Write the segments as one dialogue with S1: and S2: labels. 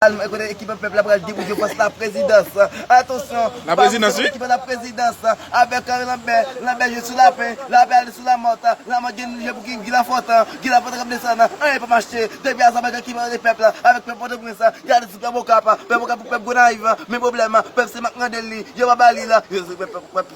S1: Alman kote ekip an pèp la pral depoze fòs la prezidans atansyon pa moun se moun ki
S2: pran la prezidans
S1: avèk lanbè lanbè jwe sou lapen lapen ale sou lamòt lamòt gen jwe pou ki gilafòt gilafòt kap desann anyen pa mache depi azabankan ki mande pèp la avèk pèp pòtoprens gade ti pèp okap pèp okap pou pèp gonayiv men pwoblèm pèp se mak mandel li yo pa ba li l yo se pèp pèp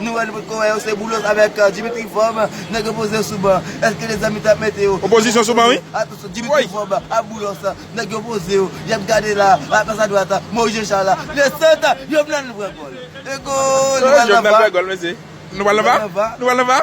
S1: Nou wè nou potko wè yo se boulos avèk dimitri vòb nèg yo poze yo sou ban eske de zanmi tap mete yo opozisyon sou ban wi
S2: atansyon dimitri vòb
S1: ak boulos nèg yo poze yo yap gade la atos adwat moyiz jechal le sant jovenel nou pran gòl e gòl nou pral nan va nou pral nan
S2: va nou pral nan va.